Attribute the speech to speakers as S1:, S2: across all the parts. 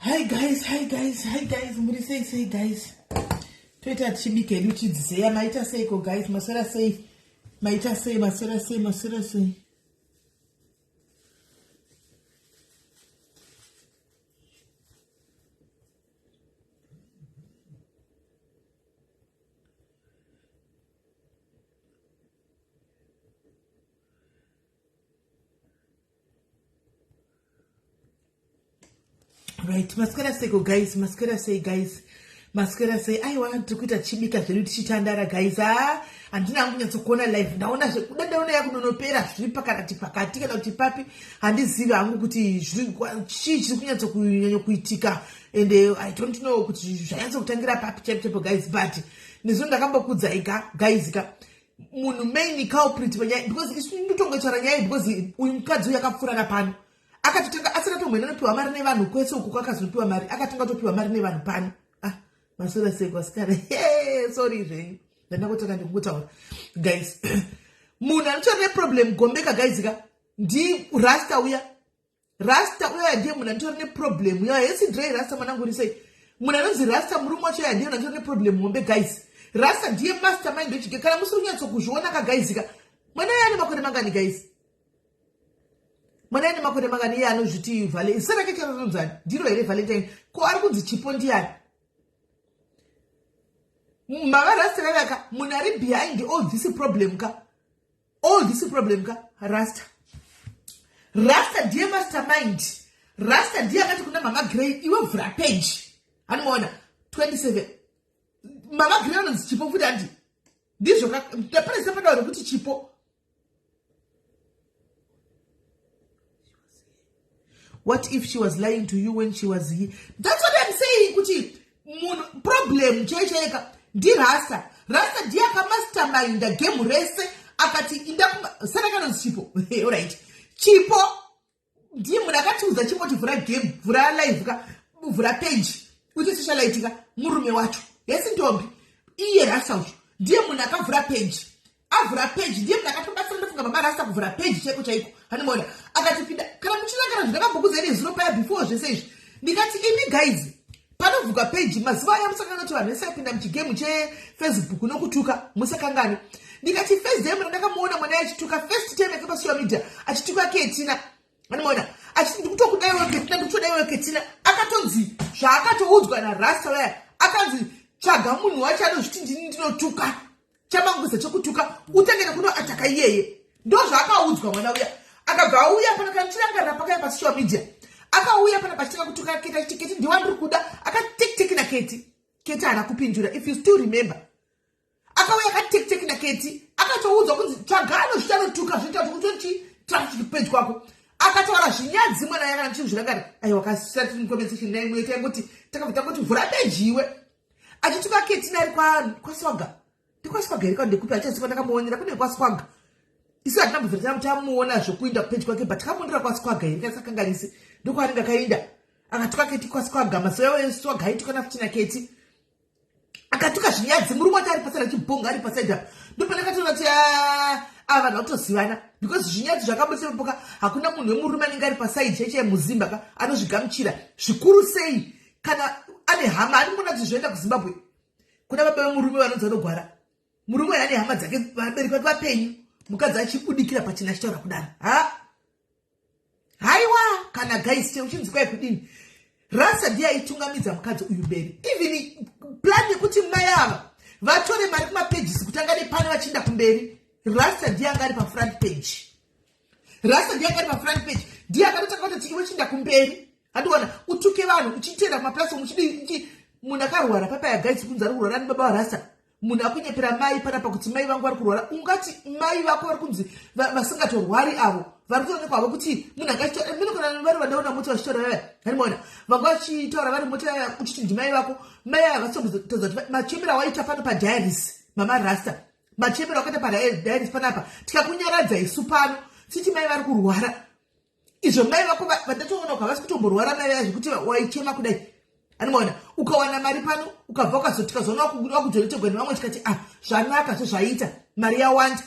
S1: hi guys hi guys hi guys muri sei sei guys toita tichibika hedu chidziseya maita seiko guys maswera sei maita sei maswera sei maswera sei right maswera seiko guys maswera sei guys maswera sei aiwa tiri kuita tichibika zvedu tichitandara guys haa ah, handina hangu nyatsokuona live ndaona zvekuda ndaona yakunonopera zviri pakarati pakati kana kuti papi handizivi hangu kuti chii chiri kunyatso kunyanya kuitika and uh, i don't know kuti zvanyatso kutangira papi chaipochaipo guys but nezvo ndakambokudzai ka guys ka munhu main culprit panyaya because isu ndotongochara nyaya because uyu mukadzi uyu akapfuurana pano akatotanga asati atomboenda anopiwa mari nevanhu kwese uku kwakazopiwa mari akatanga atopiwa mari nevanhu pano maswera sei kwasikana he sorry zvenyu ndandakotanga ndikukutaura guys munhu anotora neproblem gombeka guys ka ndi rasta uya rasta uya ndiye munhu anotora neproblem uya hesi drey rasta mwanangu uri sei munhu anonzi rasta murume wacho uya ndiye munhu anotora neproblem hombe guys rasta ndiye master mind wechige kana musiri kunyatsokuzviona ka guys ka mwana yane makore mangani guys mwana ine makore mangani iye anozviti vale zita rake charatonzani ndiro here valentine ko ari kunzi chipo ndiyani mavarasta vavaka munhu ari behind all this problem ka all this problem ka rasta rasta ndiye master mind rasta ndiye akati kuna mama grey iwe vhura page anomaona 27 mama grey anonzi chipo futi andi ndizvo ka ndaparesa padawa rekuti chipo what if she was lying to you when she was here that's what i'm saying kuti munhu problem chaichaeka ndirasa rasa ndiye akamasterminda game rese akati inda sara kanonzi chipo orit chipo ndimu ndakatiudza chingoti vhura game vhura live ka vhura page uti sichalaitika murume wacho hesi ndombi iye rasa ucho ndiye munhu akavhura page avhura page ndiye munhu akatobatsira ndofunga baba rasa kuvhura page chaiko chaiko hanimona akatipinda kana muchirangara zvinakambokuzai nezuro paya before zvese izvi ndikati imi gaizi panovhurwa peji mazuva aya musakanga kuti vanhu vese vapinda muchigemu chefacebook nokutuka musakangani ndikati first time randakamuona mwana achituka first time yake pasocial media achituka ketina anomaona achiti ndikutokudaiwo ketina ndikutodaiwo ketina akatonzi zvaakatoudzwa narasta vaya akanzi tsvaga munhu wacho anozviti ndini ndinotuka chamangwiza chekutuka utange nekuno ataka iyeye ndozvaakaudzwa mwana uya akabva auya pana kana tichirangarira pakaya pasocial media akauya pana pachitanga kutuka keti achiti keti ndiwa ndiri kuda akatekteki naketi keti haana kupindura if you still remember akauya akatekteki naketi akatoudzwa kunzi tsvagano zvichanotuka zvinoita kuti kutochi traffic pedyo kwako akataura zvinyadzi mwana yanga ndichizvirangari aiwa kasati mukomeseshin naimwe ita yekuti takabva tangoti vhura peji iwe achituka ketina ari kwaswaga ndikwaswaga here kandekupi achaziva ndakamuonera kune kwaswaga isu hatina mubvira tana tamuona zvokuinda kupeji kwake but kamuonera kwaswaga here kaisakanganisi ndokwaanenge akainda akatuka keti kwaswaga mazuva yavo eswaga aitukana futi naketi akatuka zvinyadzi murume wati ari pasara chibhonga ari pasaidi apa ndopana katoona ti ah, ava ah, vanhu vakutozivana because zvinyadzi zvakabusepoka hakuna munhu wemurume anenge ari pasaidi cheche muzimba ka anozvigamuchira zvikuru sei kana ane hama ari kuona kuti zvoenda kuzimbabwe kuna baba vemurume vanonzi vanogwara murume uyo ane hama dzake vabereki vati vapenyu mukadzi achibudikira pachina achitaura kudaro ha haiwa kana gaiste uchinzi kwai kudini rasa ndiye aitungamidza mukadzi uyu mberi even plan yekuti mai ava vatore mari kumapages kutanga nepano vachienda kumberi rasa ndiye anga ari pafront page rasta ndiye akari pafront page ndiye akatotanga kuti chikiwe chinda kumberi handiona utuke vanhu uchiteera kumaplatform uchidii munhu akarwara papaya guys kunzi ari kurwara nebaba varasta munhu akunyepera mai panapa kuti mai vangu vari kurwara ungati mai vako vari kunzi vasingatorwari avo vari kutoonekwa havo kuti munhu anga achitaura mino kana vari vandaona mota vachitaura vaya handimaona vanga vachitaura vari mota yaya uchiti ndimai vako mai aya vasitogutadza kuti machembera waita pano padiaris mama rasta machembera wakaita padairis panapa tikakunyaradza isu pano siti mai vari kurwara izvo mai vako vandatoona kavasi kutomborwara mai vaya zvekuti waichema kudai animoona ukawana mari pano ukabva ukazotikazona wakujoretegwa nevamwe tikati a ah, zvanaka zvo zvaita mari yawanda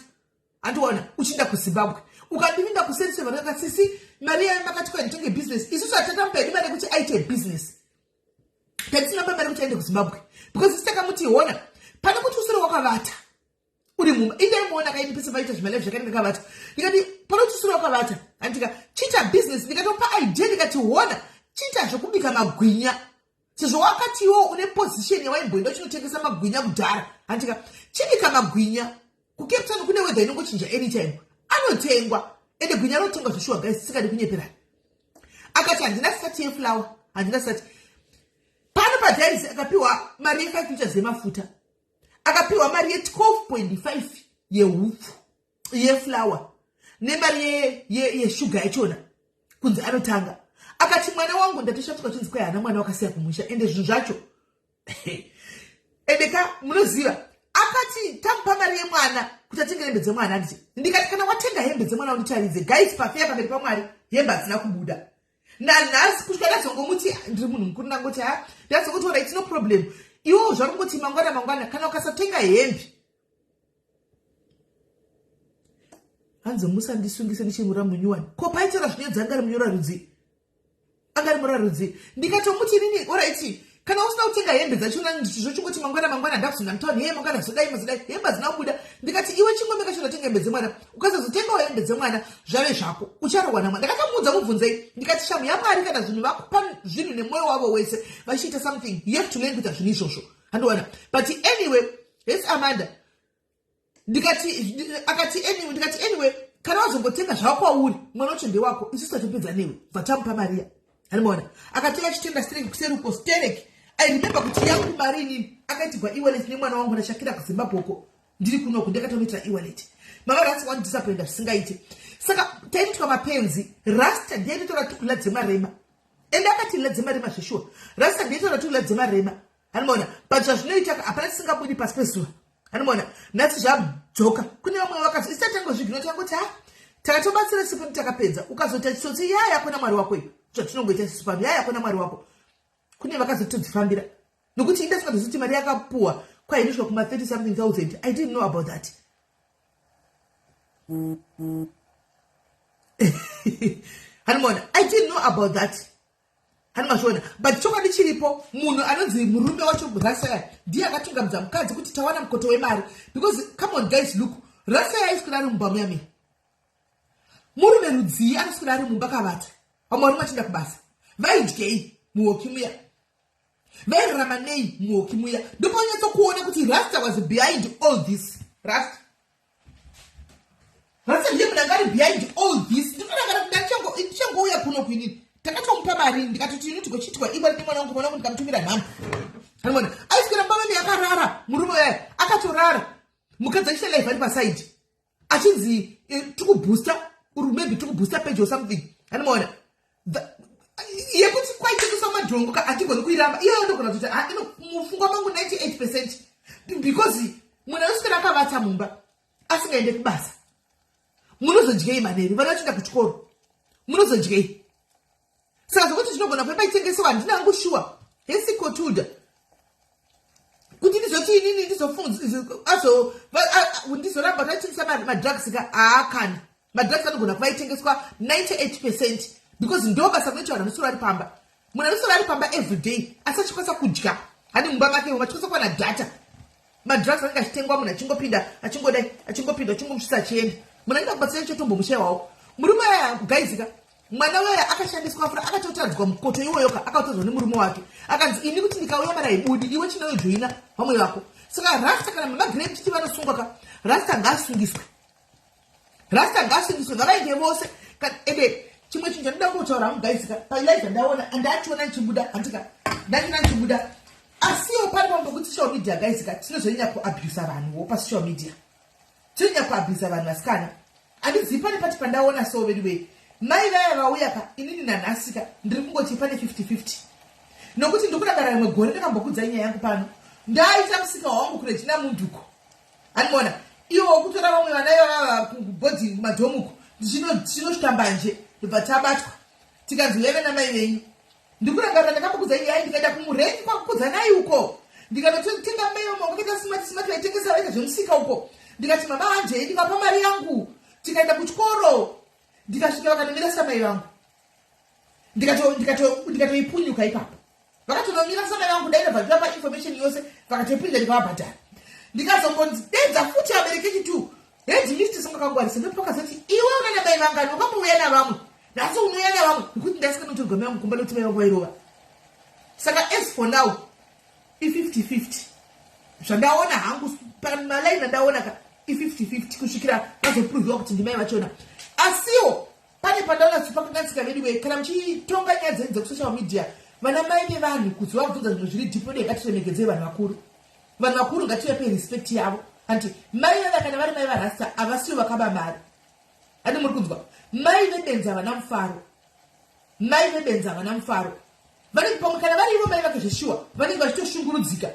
S1: andiona uchiinda kuzimbabwe ukandivinda kusensevaraka sisi mari yayo makati kwaitenge business isusu hatatamupaidi mari yekuti aite business Tatisina baba rekuti aende kuZimbabwe because sisi takamuti hona pane kuti usure wakavata uri mumba indaimuona kaini pese paita zvimalive zvakainge kavata ndikati pane kuti usure wakavata andika chiita business ndikatopa idea ndikati hona chiita zvekubika magwinya sezvo wakati iwo une position yawaimboenda uchinotengesa magwinya kudhara andika chibika magwinya kukeptan kune wedha inongochinja anytime anotengwa ende gwinya rotengwa zveshuwa gai sisikadi kunyeperana akati handina sati yeflower handina sati pano padiaris akapiwa mari yefive liters yemafuta akapiwa mari ye12.5 yehupfu yeflower nemari yeshuga yachona kunzi anotanga akati mwana wangu ndatoshatika chinzi kwai hana mwana wakasiya kumusha ende zvinhu zvacho ende ka munoziva akati tamupa mari yemwana kuti atenge hembe dzemwana anditi ndikati kana watenga hembe dzemwana unditaridze guys pafeya pamberi pamwari hembe hadzina kubuda nanhasi kusvika ndazongomuti ndiri munhu mukuru ndangoti ha ndazongoti ora itino problem iwo zvarungoti mangwana mangwana kana ukasatenga hembe hanzi musandisungise ndichimura munyuwani ko paitaura zvinyadzangari munyora rudzii anga ari murarudzi ndikatomuti inini oraiti kana usina kutenga hembe dzachona zvochingoti mangwana mangwana ndakuzonda mutauni hee mangwana zodai mazodai hembe hadzina kubuda ndikati iwe chingombe kacho ndatenga hembe dzemwana ukasazotengawo hembe dzemwana zvave zvako ucharohwa namwa ndakatomuudza mubvunzei ndikati shamu yamwari kana zvinhu vakupa zvinhu nemwoyo wavo wese vachiita something you have to learn kuita zvinhu izvozvo handiwana but anyway hes amanda ndikati akati anyway ndikati anyway kana wazongotenga zvava kwauri mwana wacho ndewako isu satopedza newe vatamupa mariya arimaona akatenga achitenda sterek kuseri uko sterek airememba kuti yangu mari inini akaitigwa ewalet nemwana wangu ndashakira kuzimbabwe uko ndiri kunoku ndakatomuitira ewalet mama rasi wandidisappoinda zvisingaite saka taititwa mapenzi rasta ndiaitotora tukula dzemarema ende akati la dzemarema zveshuwa rasta ndiaitotora tukula dzemarema hanimona but zvazvinoita hapana tisingabudi pasi pezuva hanimona nhasi zvadzoka kune vamwe vakazi isatangwe zvigino takoti ha takatobatsira sipo takapedza ukazoita chitsotsi yaya yako namwari wako iyo zvatinongoita sisu pano yaya yako namwari wako kune vakazotodzifambira nokuti inda singatozi kuti mari yakapuwa kwainosvika kuma 30 something thousand i didn't know about that hanimona i didn't know about that Hani mazviona but chokwadi chiripo munhu anonzi murume wacho rasaya ndiye akatungamidza mukadzi kuti tawana mukoto wemari because come on guys look rasaya aiswira ari mumba muyamira murume rudzii anoswira ari mumba kavata vamwe varume achienda kubasa vaidyei muhoki muya vairarama nei muhoki muya ndopanyatsokuona kuti rasta was behind all this rasta Rasa ndiye munhu angari behind all this ndinodakara kuti ndachango ndichangouya kuno kuinini takatomupa mari ndikatoti ini tigochiitwa iwe ndi mwana wangu mwana wangu ndikamutumira nhamo animona aiswera mbavani yakarara murume uyaye akatorara mukadzi achita life ari pasaidi achinzi eh, tikubooster uri maybe tikubooster page or something animona yekuti kwaitengesa madhongo ka hatigoni kuiramba iyoyo ndogona kuti ah, mufungwa mangu 98 percent because munhu anosvikana akavatsa mumba asingaende kubasa munozodyei maneri vana vachienda kuchikoro munozodyei saka zvokuti zvinogona kuve paitengesewa handina hangu shuwa hesikotuda kuti ndizoti inini ndizofunga ndizoramba taitengesa madrugs ka haakani ah, madrugs anogona kuva itengeswa 98 percent because ndo basa rinoita vanhu anosora ari pamba munhu anosora ari pamba every day asi achikwanisa kudya hani mumba make vamwe achikwanisa kuwana data madrugs anenge achitengwa munhu achingopinda achingodai achingopinda achingomusvisa achienda munhu anenge akubatsira icho tombomushayawawo murume aya gaizika mwana weye akashandiswa fura akatotadzwa mukoto iwoyoka akatadzwa nemurume wake akanzi ini kuti ndikauya mara ibudi iwe chinoyojoina vamwe vako saka rasta kana mamagree chiti vanosungwa ka rasta ngaasungiswe rasta ngavasimbiswe ngavaite vose ende chimwe chinhu chandida kungotaura hangu guys ka palive ndaona andachiona ndichibuda handika ndachiona ndichibuda asiwo pari pambo kuti social media guys ka tinozonyanya kuabusa vanhuwo pasocial media tinonyanya kuabusa vanhu vasikana handizivi pane pati pandaona so vedu vei mai vaya vauya ka inini nanhasika ndiri kungoti pane 50 50 nokuti ndikudakara rimwe gore ndakambokudza nyaya yangu pano ndaita musika wangu kurejina munduko anmona iwo wokutora vamwe vana ivavava kubhodhingi kumadhomuko tinosvika mbanje ndobva tabatwa tikanzi huyai vana mai venyu ndikurangarira ndakambokudza iyai ndikaenda kumurengi kwakukudza nai uko ndikanotenga mai vamongo kaita simati simati vaitengesa vaita zvemusika uko ndikati mama hanjei ndikapa mari yangu tikaenda kuchikoro ndikasvika vakanomirasa mai vangu ndikatoipunyuka ipapo vakatonomira saka yangu kudai ndabva ndiva painformation yose vakatoipunyuka ndikavabhadhara ndikazongonzi dedza futi aberekechi t hedi misti singakangwarisa ndopakazoti iwe unana mai vangani wakambouya navamwe nhasi unouya navamwe nekuti ndasinganotorwa mai vangu kumba nokuti mai vangu vairova saka as for now i50 50 zvandaona hangu pamalaini andaona ka i50 50 kusvikira vazopruvhiwa kuti ndimai vachona asiwo pane pandaona kuti pakakatsika vedu wee kana muchitonga nyaya dzenyu dzekusocial media vana mai vevanhu kuti vabvunza zvinhu zviri dhipo dei ngatiremekedzei vanhu vakuru vanhu vakuru ngativape respect yavo hanti mai veva kana vari mai varasta havasiwo vakaba mari handi muri kunzwa mai vebenzi havana mufaro mai vebenzi havana mufaro vanenge pamwe kana vari ivo mai vake zveshuwa vanenge vachitoshungurudzika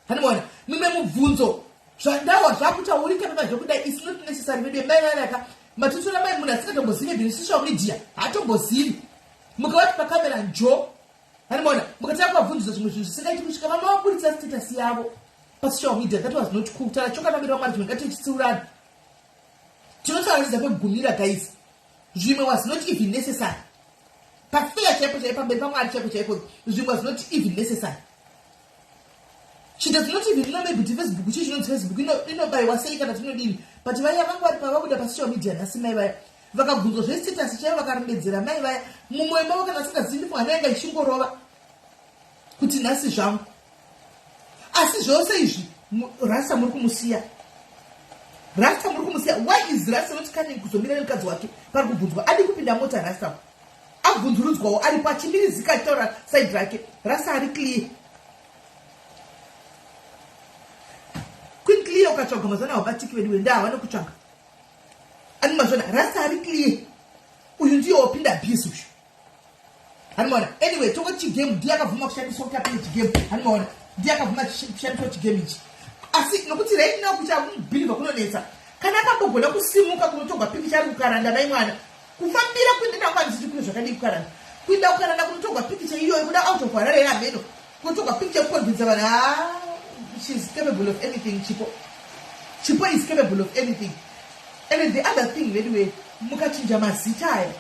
S1: hanimona mimwe mubvunzo zvandawa zvakutaurika mima zvekudai is not necessary vedu mai vanaka matotora mai munhu asingatombozive bini social media haatombozivi mukavati pakamera njo hanimona mukatanga kuvabvunzisa zvimwe zvinhu zvisingaiti kusvika vama vaburitsa status yavo pasocial media that was not cool tara chokanamira vamwari zvimwe ngatichitsiurana Tinotaurisa pekugumira guys. Zvimwe was not even necessary. Pafeya chaipo chaipo pamberi pamwari chaipo chaipo zvimwe was not even necessary. She does not even know maybe kuti Facebook chii chinonzi Facebook inobaiwa sei kana tinodini but vaya vangu vari pavabuda pasocial media nhasi mai vaya vakabvunzwa zvesitasi chaivo vakarembedzera mai vaya mumwoyo mavo kana asingazivi ndifunga nayanga ichingorova kuti nhasi zvangu asi zvose izvi rasta muri kumusiya rasta muri kumusiya why is rasta not coming kuzomira nemukadzi wake pari kubvunzwa adi kupinda mota rasta abvunzurudzwawo aripo achimirizika achitaura saidi rake rasta ari clear queen clear ukatsvaga mazana wabatiki vedu wenda havane kutsvaga ani mazana rasta ari clear uyu ndiye wapinda abuse uyu Hanimona. Anyway, toko chigame ndiye akabvuma kushandiswa kuti apinde chigame. Hanimona. Ndiye akabvuma kushandiswa chigame ichi. Asi nokuti right now kucha believe kunonetsa. Kana akambogona kusimuka kunotogwa piki chari kukaranda mai mwana. Kufambira kuenda na mwana zvichikuno zvakadii kukaranda. Kuenda kukaranda kunotogwa piki chaiyo ikuda out of harare ya meno. Kunotogwa piki chekukondidza vanhu. Ah, she is capable of anything chipo. Chipo is capable of anything. And the other thing, anyway, mukachinja mazita aya.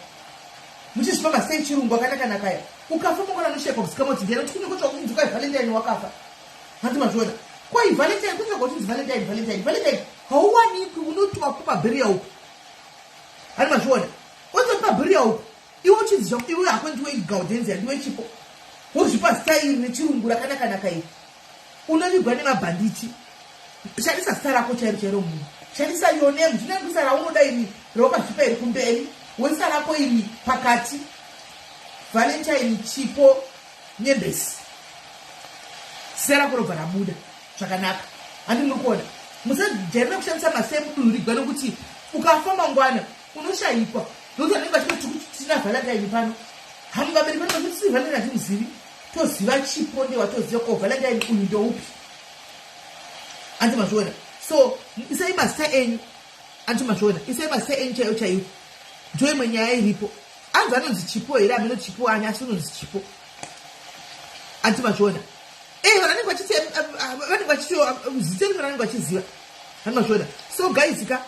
S1: muchizvifamba sei chirungu akanaka nakaya ukafa mokona nosheka kusika moti ndiani kuti kunenge kutsvaga kunzi kwai valentine wakafa hanzi mazviona kwai valentine kutsvaga kuti nzi valentine valentine valentine hauwanikwi unotiwa kumabhiriya uku hanzi mazviona oto kumabhiriya uku iwe uchizizva kuti iwe hako ndiwe igaudenzi handiwe chipo wozvipa zita iri nechirungu rakanaka naka iri Unovigwa nemabhanditi. Shandisa zita rako chairo chairo munhu. Shandisa your name. Zvinangwisa raunoda iri ropa zvipa iri kumberi. Wezita rako iri pakati. Valentine Chipo Nyembesi. Zita rako robva rabuda zvakanaka. Handi muri kuona. Musajairira kushandisa masame kudurigwa nokuti ukafa mangwana unoshayikwa. Ndokuti vanenge vachiti tina Valentine pano. Hamuvabereki vanokuti Valentine hatimuzivi. toziva chipo ndewa toziva ko valentine uyu ndoupi anti mazviona so isai mazita enyu anti mazviona isai mazita enyu chaiyo chaiyo ndo imwe nyaya iripo anzi anonzi chipo here ameno chipo ani asi unonzi chipo anti mazviona e eh, vanenge vachiti eh, eh, vanenge vachiti zita rino ranenge vachiziva anti mazviona so guys ka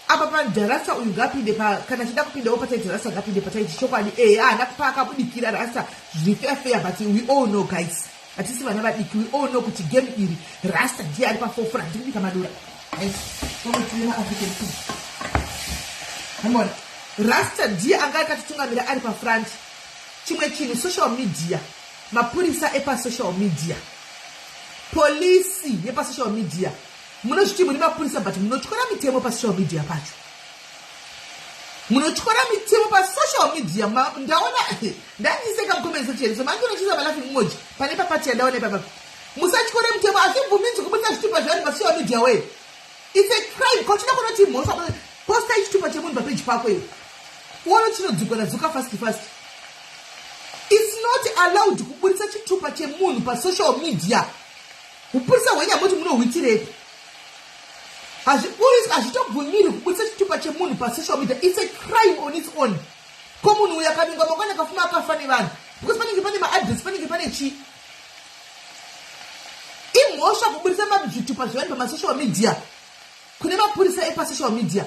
S1: apa panja rasta uyu ngapinde pa kana achida kupindawo pachaiti rasta ngapinde pachaiti chokwadi ehe haana kupa akabudikira rasta zviri fair fair but we all know guys hatisi vana vadiki we all know kuti game iri rasta ndiye ari pafofora ndiri kubika madura amona rasta ndiye anga akatitungamira ari pafront chimwe chinhu social media mapurisa epasocial media polisi yepasocial media Munozviti muri mapurisa but munotyora mitemo pasocial media pacho. Munotyora mitemo pasocial media ndaona ndanyiseka mucomment section so manje unochiza malafi mumoji pane papati yandaona ipapa. Musatyore mitemo hazvibvuminzi kubudisa zvitupa zvevanhu pasocial media wee. It's a crime kochida kunoti mhosva posta ichitupa chemunhu papeji pako iwe. Wona chinodzukwa nadzuka fast fast. It's not allowed kubudisa chitupa chemunhu pasocial media. Hupurisa hwenyamoti munohuitirepi? Hazviburiswi, hazvitobvumirwi kuburitsa chitupa chemunhu pasocial media. It's a crime on its own. Ko munhu uyu akanunga mangwana akafuma akafa nevanhu because panenge pane maadress panenge pane chii? Imhosva kuburitsa zvitupa zvevanhu pamasocial media kune mapurisa epasocial media.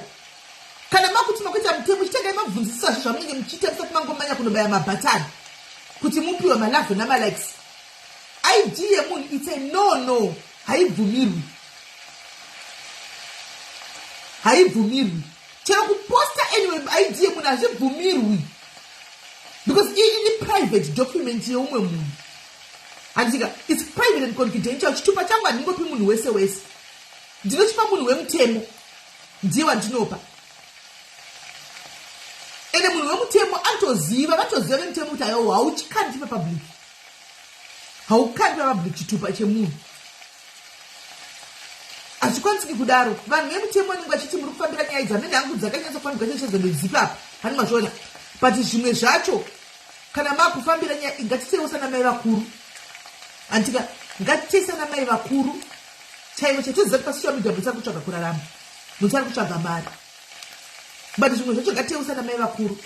S1: Kana makuti makuita mutemo chitengai mabvunzisisazve zvamunenge muchiita musati mangomanya kunobaya mabhatani kuti mupiwe malove namalikes. id yemunhu its a no no haibvumirwi haibvumirwi chero kuposta anyway id yemunhu hazvibvumirwi because iyi ini private document yeumwe munhu handitika its private and confidential chitupa changu handingopi munhu wese wese ndinochipa munhu wemutemo ndiye wandinopa ende munhu wemutemo anotoziva vatoziva vemutemo kuti ayo hauchikandipa public haukapi vabhuku chitupa chemunhu hazvikwanisiki kudaro vanhu vemutemo vanenge vachiti muri kufambira nyaya idzi hamene hangu dzakanyatsa kufambirwa chechedzo ndedzipi apa hani mazviona but zvimwe zvacho kana makufambira nyaya ngatitewo sana mai vakuru hantika ngatitei sana mai vakuru chaivo chatiziva kuti pasocial media mutsari kutsvaga kurarama mutsari kutsvaga mari but zvimwe zvacho ngatitei usana mai vakuru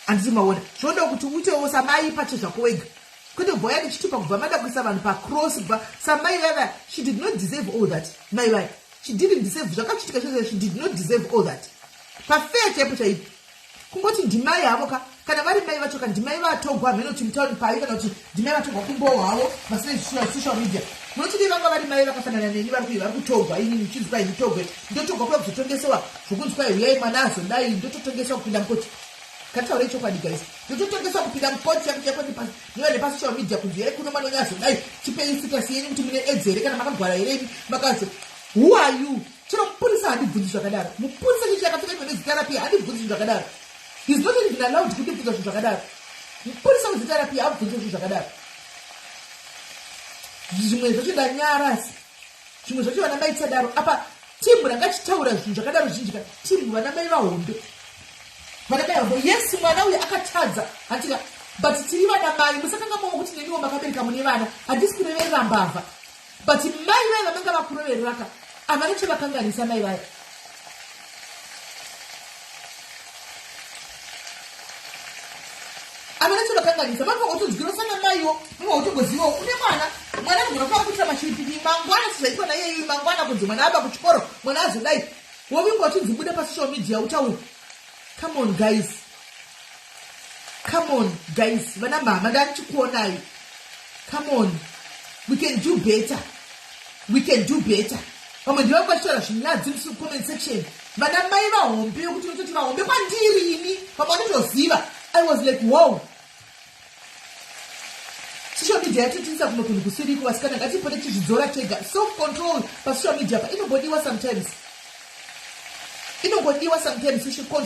S1: handisi maona zvinoda kuti uitewo samai pache zvako wega kwete kubva uya ndichitupa kubva mada kuisa vanhu pacross kubva samai vaya she did not deserve all that mai vaya she didn't deserve zvakachitika zvese she did not deserve all that pafeya chaipo chaipo kungoti ndimai havo ka kana vari mai vacho ka ndimai vatogwa hameno kuti mutauri pavi kana kuti Ndimai vatorwa kumbowo havo vasina zvisina social media munochidii vanga vari mai vakafanana neni vari kuyi vari kutogwa ini muchinzi kwai nditogwe ndotogwa kuda kuzotongesewa zvokunzi kwai huyai mwana azodai ndototongesewa kupinda mukoti kataura ichokwadi guys ndototongesewa kupinda mukoti yakuiva nepasocial media kunzi yai kuno mwana wenyu azodai chipei sitasi yenyu kuti mune edzi here kana makagwara here ini makazi who are you chero mupurisa handibvunzi zvakadaro mupurisa chichi yakapfeka imwe nezita rapi handibvunzi zvinhu zvakadaro He's not even allowed kuti bvunza zvinhu zvakadaro. Mupurisa wezita rapi abvunze zvinhu zvakadaro. Zvimwe zvacho ndanyarasi. Zvimwe zvacho vana mai tisadaro. Apa team ranga chitaura zvinhu zvakadaro zhinji ka team vana mai vahombe. Vana mai vahombe. Yes mwana uyu akatadza. Hatika but tiri vana mai musakanga mavo kuti neniwo makabereka mune vana. Handisi kureverera mbavha. but mai vaye vamanga vakurovereraka havana chavakanganisa mai vaye havana chavakanganisa vanga votonzwirosa namaiwo vanga votongozivawo une mwana mwana anogona kuva kuitira mashiripini mangwana sizvaitwa naiyeyi mangwana kunzi mwana ava kuchikoro mwana azodai wovingwa uchinzi bude pasocial media utaure come on guys come on guys vana mhama ndandichikuonai come on we can do better we can do better vamwe ndivangu vachitaura zvinyadzi musi comment section vana mai vahombe yokuti unototi vahombe kwandiri ini vamwe vanotoziva i was like wow social media yatotitisa kumwe kunhu kusiriko vasikana ngatipote tichizvidzora tega self control pasocial media pa inombodiwa sometimes inombodiwa sometimes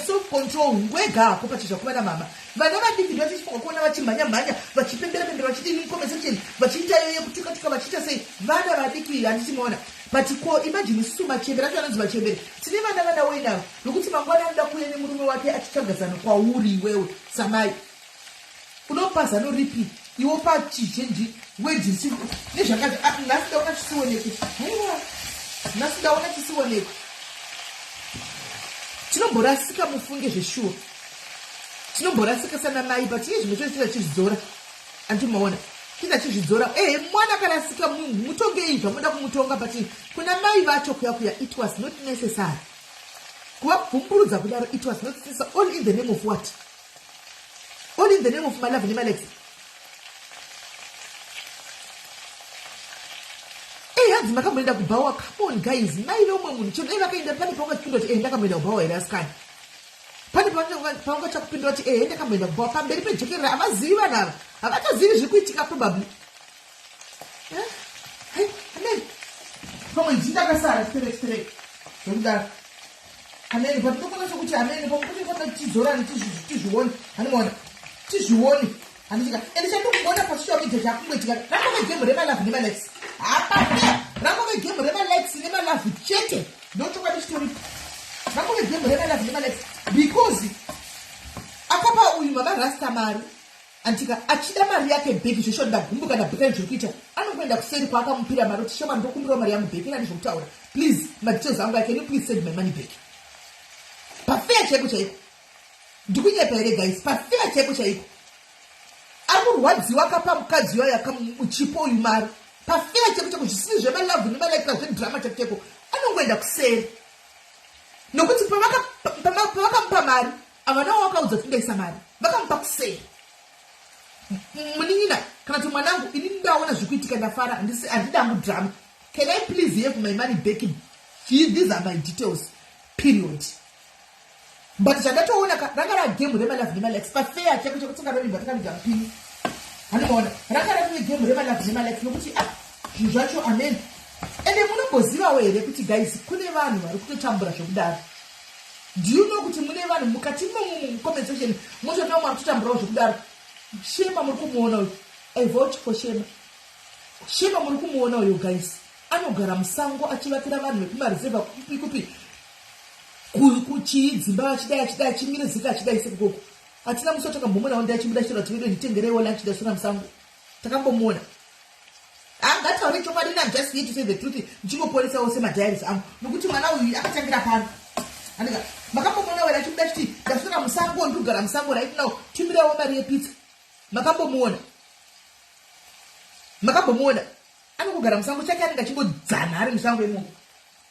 S1: self control ngwega hako pacho zvakuva na mama vana vadiki ndo tichifunga kuona vachimhanya mhanya vachipembera pembera vachiti in conversation vachiita yoye kutuka tuka vachiita sei vana vadiki handichimaona but ko imagine isusu machembere acho anonzi machembere tine vana vana woinavo nokuti mangwana anoda kuuya nemurume wake achitsvaga zano kwauri iwewe samai unopa zano ripi iwo pachizhinji wejisi nezvakati ah, nhasi ndaona chisionekwe haiwa nhasi ndaona chisionekwe tinomborasika mufunge zveshuwa tinomborasika sana mai but iye zvimwe chose tizachizvidzora andimaona tizachizvidzora ehe mwana akarasika mutongei zvamoda kumutonga but kuna mai vacho kuya kuya it was not necessary kuvabvumburudza kudaro it was not sister all in the name of what all in the name of malove nemalex ehanzi eh, makamboenda kubhawa camon guys maive umwe munhu chero dai vakaenda pane paungachipindwa kuti enda eh, kamboenda kubhawa here asikani pane paungatya kupindwa kuti ehe eh, ndakamboenda kubhawa pamberi pejekerera havazivi vanhu ava havatozivi zviri kuitika probably pamwe ndindakasara sterek sterek zvokudaro amene but ndokona sokuti amene pakuti fana tizorane tizvione hanimona tizvione handichika and chandokugona pasocial media chakungoitika rangove game remalavi nemalex hapana rangove game remalex nemalavi chete ndochokwadi chitori rangove game remalavi nemalex because akapa uyu mama rasta mari Antika achida mari yake back zveshuwa ndagumbuka ndabhekani zviri kuita anongoenda kuseri kwaakamupira mari kuti shema ndokumbirawo mari yangu back inani zvokutaura please madetails angu i can you please send my money back pafeya chaiko chaiko ndikunyepa here guys pafeya chaiko chaiko ari kurwadziwa akapa mukadzi wayo akamuchipo uyu mari pafeya chaiko chaiko zvisiri zvemalavhu nemalaika zvedrama chaiko chaiko anongoenda kuseri nokuti pavakamupa mari Havanawo wakaudza kuti ndaisa mari vakamupa kusei munin'ina kana kuti mwanangu ini ndaona zvikuitika ndafara handisi handida hangu drama can i please have my money back these are my details period but zvandatoona ka ranga ragemu remalove nemalex pafeya chako chekutsenga rovimba takaviga mupini handimaona ranga rave gemu remalove nemalex nokuti a ah, zvinhu zvacho amen ende munogozivawo here kuti guys kune vanhu vari kutotambura zvekudaro Do you know kuti mune vanhu mukati imomo mucomment section motoona umwe akutotamburawo zvekudaro shema muri kumuona uyu i vote for shema shema muri kumuona uyo guys anogara musango achivakira vanhu vekumareserva kupi kupi kuchii dzimba vachidai achidai achimire zika achidai sekukoko hatina musi watakambomona wandi achibuda chero tivedo nditengereiwo lunch dasona musango takambomuona angataure chokwadi ina just here to say the truth ndichinoporesawo semadiaries angu nokuti mwana uyu akatangira pano andika makambomona wera chimuda chiti ndasvira musango ndikugara musango right now timirawo mari yepitsa makambomuona makambomuona anongogara musango chake anenge achingodzana ari musango imomo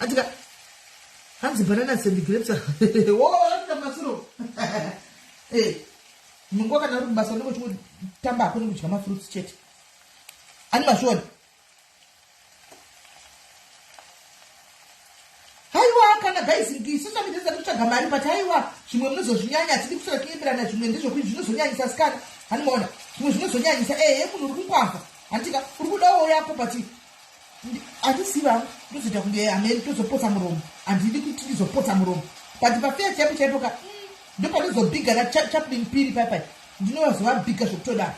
S1: atika hanzi banana and grapes woda masuro eh, mungu wakana uri kubasa unenge uchingotamba hako nekudya mafruits chete ani masvoni kana guys isusa mitesa kutsvaga mari but aiwa zvimwe munozozvinyanya hatidi kusvika kuimbirana zvimwe ndezvokuti zvinozonyanyisa sikana hanimaona zvimwe zvinozonyanyisa ehe munhu uri kungwavha handitika uri kudawo yako but atisiva ndozoita kunge hameni tozopotsa muromo handidi kuti ndizopotsa muromo but pafeya chaipo chaipo ka mm, ndopanozobhiga na chaplin piri paipai ndinovazovabhiga zvokutodaro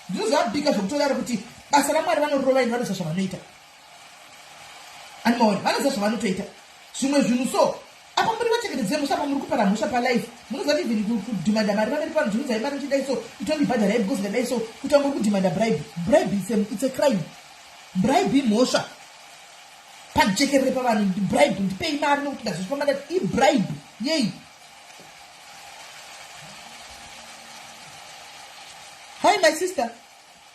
S1: ndinozovabhiga zvokutodaro kuti basa ramwari vanorova ini vanoza zvavanoita animaona vanoza zvavanotoita zvimwe zvinhu so Apa muri vachengeti dzemhosva apa muri kupara mhosva palife munoziva kuti even kudhimanda mari pameri pano dzunzai mari muchidai so itondibhadharai because ndadai so kuti amuri kudhimanda bribe bribe it's a, it's a crime bribe imhosva pajekerere pavanhu bribe ndipei mari nokuti ndazvifamba ndati ibribe yei hi my sister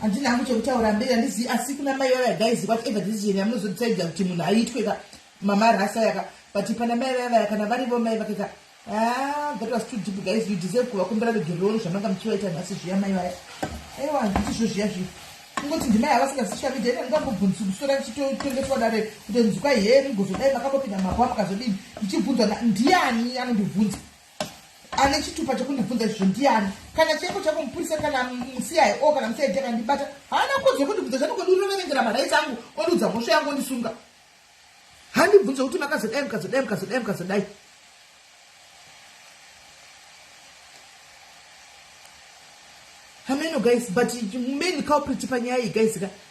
S1: handina hangu chekutaura mberi handizivi asi kuna mai vaya guys whatever decision yamunozodecide kuti munhu aitwe ka mama rasa yaka but pana mai vaya vaya kana varivo mai vake ka ah, that was too deep guys you deserve kuvakumbira regerero zvamanga muchivaita nhasi zviya mai vaya aiwa handiti zvo zviya zviya kungoti ndimai havasingazishavi dai ndangambobvunzi kusora ndichitotengeswa dare kuti nzwika here mugozodai makambopinda mako amukazodini ndichibvunzwa ndiani anondibvunza ane chitupa chekundibvunza izvozvo ndiani kana cheko chako mupurisa kana musiyai o kana musiyai akandibata haana kodzo yekundibvunza zvanokondinoverengera maraiti angu ondiudza mhosva yangu ondisunga handibvunza kuti makazodai mukazodai mukazodai mukazodai hameno guys but main culprit panyaya iyi guys ka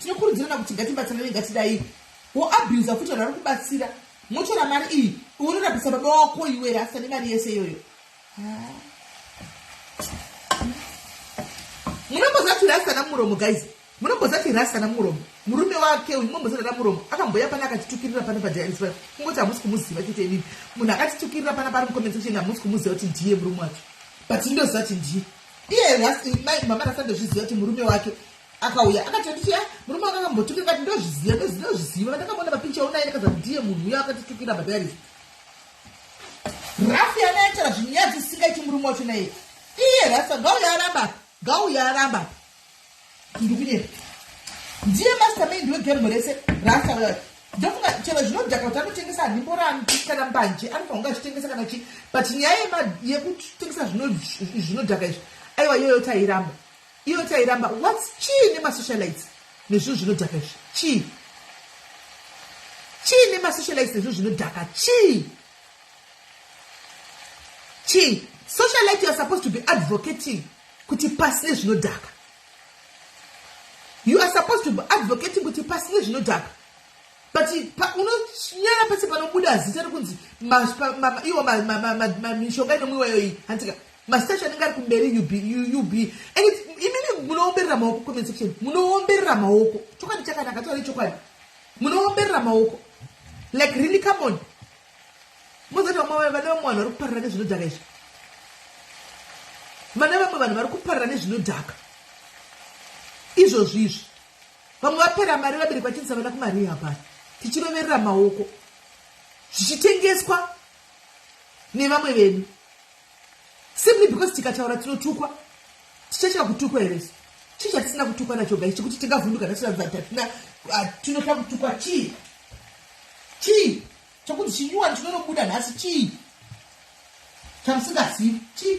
S1: Tinokurudzirana kuti ngatibatsirane ngatidai wo abuser futi vanhu vari kubatsira motora mari iyi unorapisa baba wako iwere asane mari yese iyoyo ah. munombozati rasana muromo guys munombozati rasana muromo murume wake uyu munombozarana muromo akamboya pana akatitukirira pana padiaris paya kungoti hamusi kumuziva chete inini munhu akatitukirira pana pari mucomment section hamusi kumuziva kuti ndiye murume wake but indoziva kuti ndiye iye mama rasandozviziva kuti murume wake akauya akati anditiya murume anga akambotukira kati ndozviziva ndozviziva vandakambona mapincha onaye ndikaza ndiye munhu uya akatitukira madaris rafi anaitira zvinyadzi singaiti murume wacho naye iye rasa ngauya aramba ngauya aramba ndikunyera ndiye mastermind wegemu rese rasa uya ndofunga chero zvinodhaka kuti anotengesa hanimborani kana mbanje anofanha kunge achitengesa kana chii but nyaya yekutengesa zvinodhaka izvi aiwa iyoyo tairamba Iyo tairamba what's chii nemasocialites nezvinhu zvinodhaka izvi chii chii nemasocialites nezvinhu zvinodhaka chii chii socialite youare supposed to be advocating kuti pasi nezvinodhaka you are supposed to be advocating kuti pasi nezvinodhaka but unonyara pese panobuda zita rekunzi iwo mishonga inomwiwa iyoyi hantika Mastash anenge ari kumberi ub ub and imimi munoomberera maoko comment section munoomberera maoko chokwadi chakanaka tore chokwadi munoomberera maoko like really come on mozoti vamwe vane vamwe vanhu vari kuparira nezvinodhaka izvi vane vamwe vanhu vari kuparira nezvinodhaka izvozvi izvi vamwe vapera mari vabiri kwachinzi avana kumari hapana tichiroverera maoko zvichitengeswa nevamwe venyu simply because tikataura tinotukwa tichachira kutukwa here isu chii chatisina kutukwa nacho gai chekuti tingavhunduka tatinazatatina ah, tinoda kutukwa chii chii chekuti chinyuwani chinonobuda nhasi chii chamusingazivi chii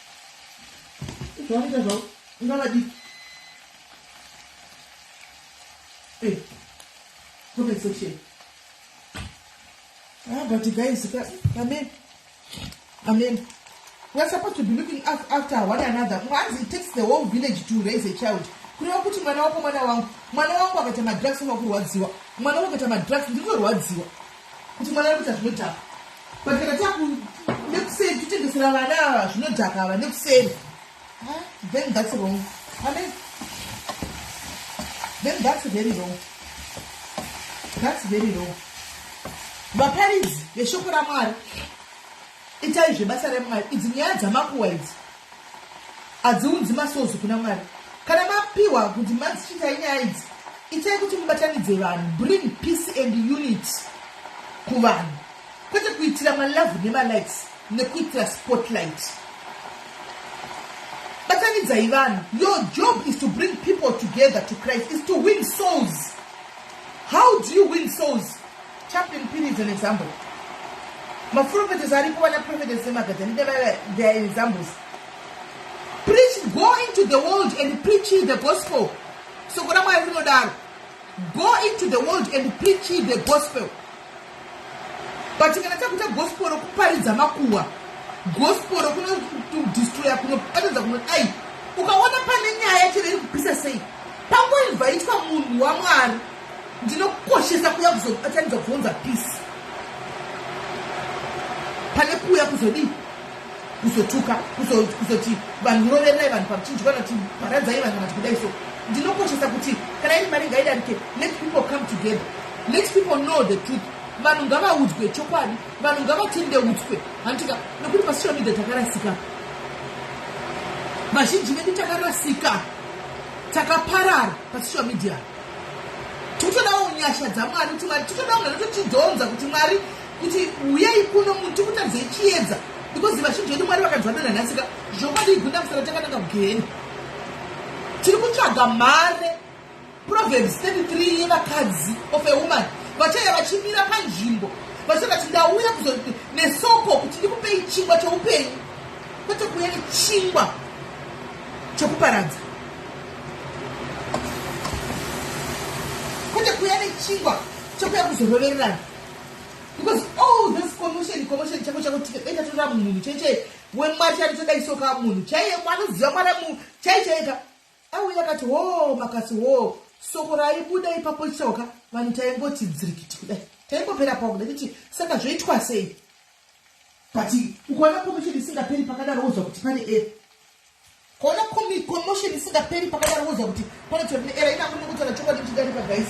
S1: Zvaita zvavo ngavadiki. Eh. Comment section. Ah, but guys, amen. Amen. We're supposed to be looking after one another. Once it takes the whole village to raise a child. kureva kuti mwana wako mwana wangu mwana wangu akaita madrugs unokurwadziwa mwana wangu akaita madrugs ndirikurwadziwa Kuti mwana ari kuita zvinodhaka but kana taku nekuseri totengesera vana ava zvinodhaka ava nekuseri then that's wrong amen then that's very wrong that's very wrong vaparidzi veshoko ramwari Itai zvebasa remwari idzi nyaya dzamakuwa idzi hadziunzi masozi kuna mwari kana mapiwa kuti madzichitai nyaya idzi itai kuti mubatanidze vanhu bring peace and unity kuvanhu kwete kuitira malove nemalikes nekuitira spotlight batanidzai vanhu your job is to bring people together to christ is to win souls how do you win souls Chaplain Phiri is an example. Maprophetess aripo vana prophetess semagadani devaya they are examples. Preach, go into the world and preach the gospel. Soko raMwari rinodaro. Go into the world and preach the gospel. But kana takuita gospel rokuparidza makuwa, gospel rokunodestroya kunoparidza kunodai, ukaona pane nyaya chero iri kupisa sei, pangoinvaitwa munhu waMwari ndinokoshesa kuya kuzobatanidza kuzounza peace pane kuya kuzodii kuzotuka kuzoti vanhu muroverai vanhu pamuchinjwa kana kuti paradzai vanhu kana kuti kudai so ndinokoshesa kuti kana iri mari ngaidarike let people come together let people know the truth vanhu ngavaudzwe chokwadi vanhu ngavatendeudzwe handitika nekuti pasocial media takarasika vazhinji vedu takarasika takaparara pasocial media tikutodawo nyasha dzamwari kuti mwari tikutodawo mwana totidhonza kuti mwari kuti uyai kuno munhu tikutadzei chiedza because vazhinji vedu mwari vakanzwa dona nhasika zvokwadi igunda musana takananga kugeheni tiri kutsvaga mhare proverbs 33 yevakadzi of a woman vachaya vachimira panzvimbo vachati ati ndauya kuzo nesoko kuti ndikupei chingwa choupenyu kwete kuuya nechingwa chekuparadza kwete kuya nechingwa chekuya kuzorovererana because all this commotion commotion chako chako tikaita tora munhu cheche wemwari chari toda isoka munhu chaiye mwanoziva mwari mu chai chaika auya akati ho oh, makasi ho oh, soko raibuda ipapo chitsauka vanhu taingoti dzirikiti kudai taingopera pakuda kuti saka zvoitwa sei but ukaona commotion isingaperi pakadaro wozwa kuti pane era kaona commotion isingaperi pakadaro wozwa kuti pane chiro ne era inangu ndikutaura chokwadi chidarika guys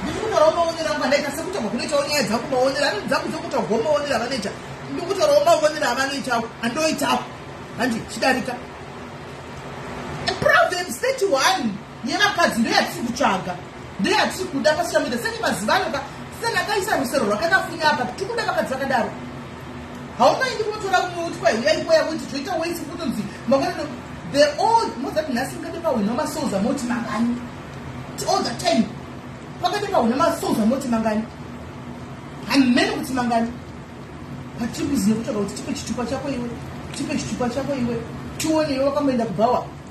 S1: ndikutaurawo maonero angu andaita sekutaurwa kunoitawo nyaya dzangu maonero anoti dzangu dzokutaurwawo maonero avanoita ndikutaurawo maonero avanoitawo andoitawo handi chidarika problem state one yevakadzi ndiyo yatiri kutsvaga ndiyo yatiri kuda pasocial media senge maziva anoka senge akaisa rusero rwakakafunya apa tiri kuda vakadzi vakadaro haumaindi kunotora umwe utwa yaipoya kuti toita waisi kutonzi mangwanano the old mozati nhasi mukade pahwina masouls amoti mangani all the time pakade pahwina masouls amoti mangani hamene kuti mangani but tiri kuziva kutsvaga kuti tipe chitupa chako iwe tipe chitupa chako iwe tione iwe wakamboenda kubhawa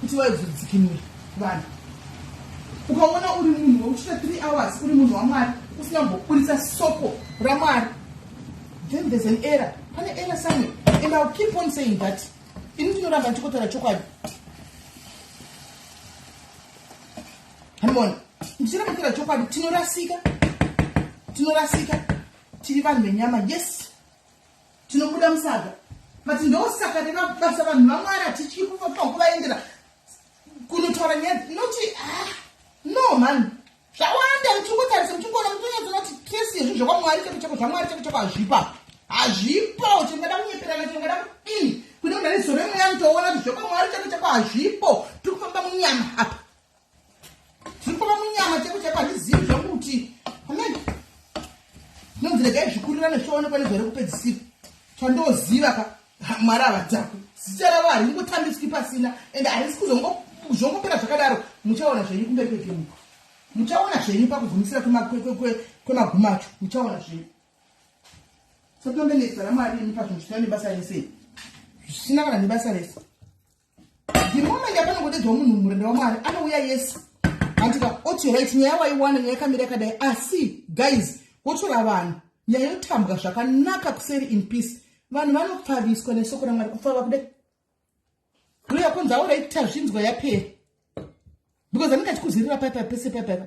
S1: kuti waizodzikinura vanhu ukaona uri munhu wekuchita three hours uri munhu wamwari usina kumboburitsa soko ramwari then there's an error pane error somewhere and ill keep on saying that ini ndinoramba ndichikotaura chokwadi hamona ndichiramba kutaura chokwadi tinorasika tinorasika tiri vanhu venyama yes tinobuda musaga but ndosaka nevabasa vanhu vamwari hatityi kuvaendera kunotaura nyaya noti ah, no mhani zvawanda muchingotarisa muchingoona mutonyatsona kuti tresi yezvi zvekwamwari cheko cheko zvamwari cheko cheko hazvipa hazvipo chingada kunyeperana chingada kudini kune mudari zoro imweya mutoona kuti zvekwamwari cheko cheko hazvipo tiri kufamba munyama apa zvirikuma munyama cheko cheko handizivi zvangu kuti amen ndonzi regai zvikurira nezvioonekwa nezvare kupedzisira chandoziva ka mwari havadzakwi zita ravo haringotambiswi pasina ende harisi kuzongopera zvakadaro muchaona zvenyu kumberi kwegemuko muchaona zvenyu pakugumisira kwemaguma acho muchaona zvenyu sotombenezita ramwari imi pazvinhu zvisina nebasa rese zvisina kana nebasa rese the moment yapanongodedzwa munhu murenda wamwari anouya yes hantika oti right nyaya waiwana nyaya yakamira yakadai asi guys wotora vanhu nyaya yotambwa zvakanaka kuseri in peace vanhu vanopfaviswa nesoko ramwari kupfava kudai uya kunzi auraitazvinzwa yapera because anenge achikuzirira paipa pese paipaipa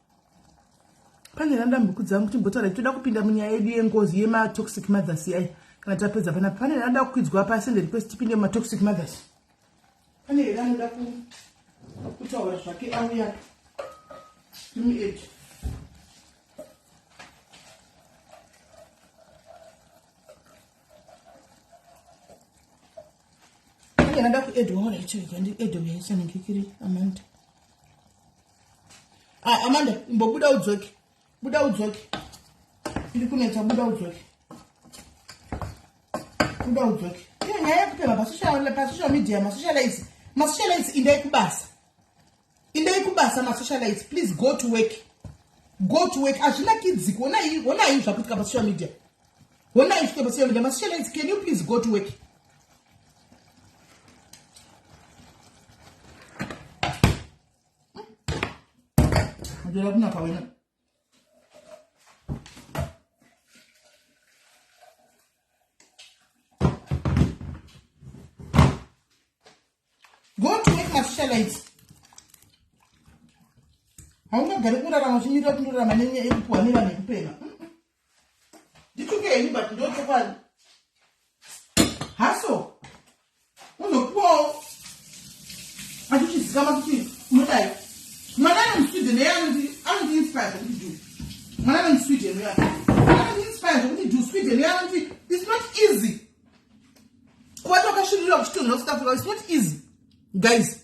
S1: pane randambuku dzangu timbotaura titoda kupinda munyaya yedu yengozi yematoxic mothers yai kana tapedza panapa pane ranoda kukwidzwa pasi ende request tipinde mumatoxic mothers pane here anoda kutaura zvake auya mued pane rada kuedwa mona ichoikandiedwa yaisanenge kiri amanda ah, amanda imbobuda udzoke buda udzoke iri kunetsa buda udzoke buda udzoke iyo nyaya yekupema pasocial media masocialize masocialize indai kubasa indai kubasa masocialize please go to work go to work hazvina kidzi honai honai zvakuitika pasocial media honai zvikuita pasocial media masocialize can you please go to work Ndira kuna kawena. Go to make mafisha lights. Haungagari kurarama uchimirira kundorarama nenyaya yekupuwa nevana yekupema. ndituke henyu but ndochokwadi haso unopuwawo achichizikama kuti unodai mwana anemusweden eye anoti anoti inspire zvekuti du mwana anemusweden uya anoti inspire zvekuti du sweden uya anoti its not easy kubata wakashirira kuchitonha kusouth africa its not easy guys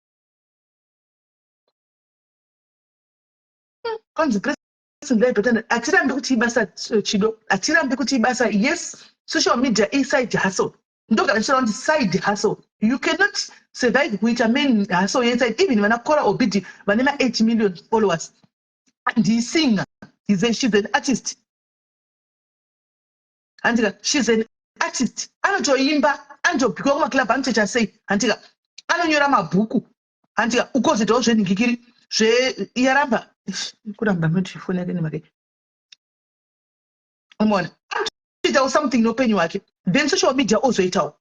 S1: kwanzi grace ndai daughter ndai hatirambi kuti ibasa eh, chido hatirambi kuti ibasa yes social media iside hustle ndogara ndichitaura kuti side hustle you cannot survive kuita main hustle yeside even vana kora obidi vane ma 8 million followers ndisinger he's a, she's an artist handika shes an artist anotoimba anotobikwa kumaclub anotoita sei handika anonyora mabhuku handika ukozoitawo zvenhingikiri zveyaramba kuramba ndotifoni yake nemake umona anotoitawo something neupenyu hwake then social media ozoitawo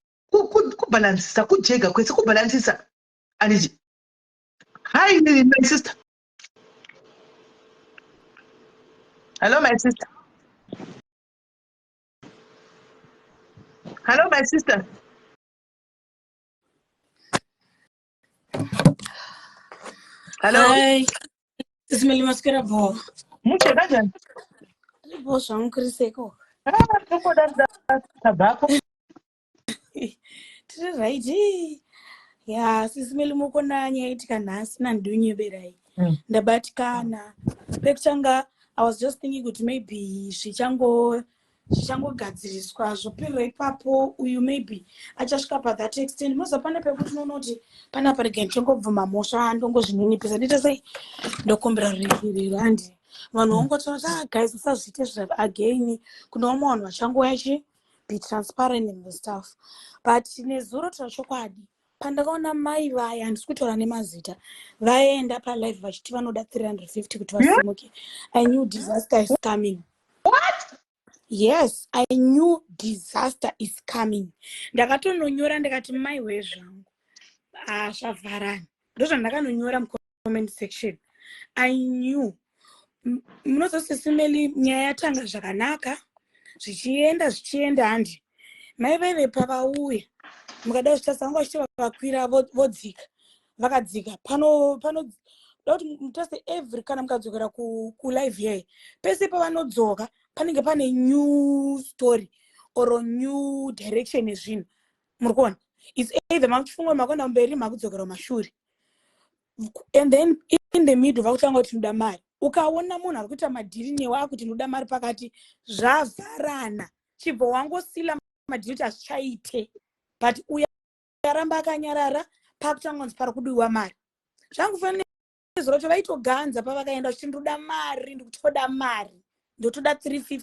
S1: kubhalansisa kujega kwese kubhalansisa anditi hi my sister hello my sister Hello, my sister.
S2: Hello. Hi. Sisi Meli Maskera Bo. Muche
S1: kanjani? Bo
S2: zvangu kuri seko. Ah, tokoda
S1: tabako.
S2: tiri right ya sisi melimuko nani yaitika nhasi nandinyeberai mm. ndabatikana pekutanga i was just thinking kuti maybe zvichango zvichangogadziriswa zvopirwa ipapo uyu maybe achasvika pathat extend moza pane pekuti unoona kuti pane apa rega ndichongobvuma mhosva ndongozvininipisa ndiite sei ndokumbira rurikiriro handi vanhu vongotaura kuti ah, guys musazviite zva again kune vamwe vanhu vachangouya chii be transparent in the stuff but nezuro tira chokwadi pandakaona mai vaya handisi kutaura nemazita vaenda palive vachiti vanoda 350 kuti vasimuke i knew disaster is coming What?
S1: yes i
S2: knew disaster is coming ndakatononyora ndikati mai wezvangu ah, zvavharani ndozvandakanonyora mko comment section i knew munozosisimeli nyaya yatanga zvakanaka zvichienda zvichienda handi mai vaive pavauya mukada kuzvitasa vanga vachiti vavakwira vodzika vakadzika pano pano dakuti mutase every kana mukadzokera kulive yaye pese pavanodzoka panenge pane new story or new direction yezvinhu muri kuona its either makuchifunga makuenda mberi makudzokera kumashure and then in the middle vakutanga kuti tinoda mari ukaona munhu ari kuita madhiri newe akuti ndinoda mari pakati zvavharana chibva wangosila madhiri kuti hazvichaite but uya aramba akanyarara pakutanga kunzi pari kudiwa mari zvangu fanira zuro kuti vaitoganza pavakaenda kuti ndoda mari ndikutoda mari ndotoda 350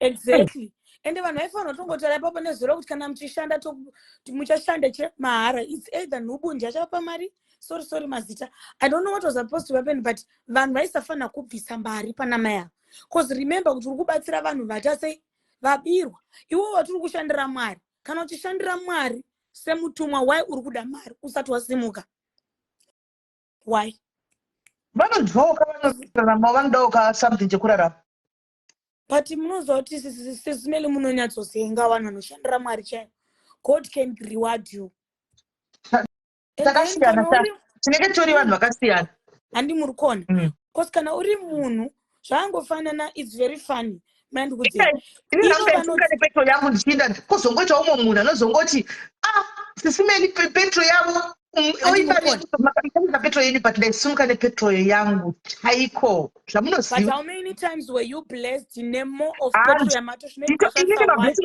S2: exactly ende vanhu vaifanira tongotaura ipapo nezuro kuti kana muchishanda muchashanda che mahara its either nhubundi achapa mari sorry sorry mazita i don't know what was supposed to happen but vanhu vaisafanira kubvisa mari pana mai ava bcause remember kuti uri kubatsira vanhu vata sei vabirwa iwo watiri kushandira mwari kana uchishandira mwari semutumwa why uri kuda mari usati wasimuka why
S1: vanodzoka vanoitiramo vanodaoka something chekurarama but
S2: munoziva kuti sismeli munonyatsosenga vanhu vanoshandira mwari chaivo god can reward you takasiyana tinenge
S1: tori vanhu vakasiyana handi muri kona
S2: mm. bcause kana uri munhu zvaangofanana its very funny
S1: mandikuzivaipetro yangu ndichienda kozongoita umwe munhu anozongoti a ah, sisimeli petro yavo oiaaiisa petro yenyu but ndaisumuka nepetro yangu chaiko
S2: zvamunozivainini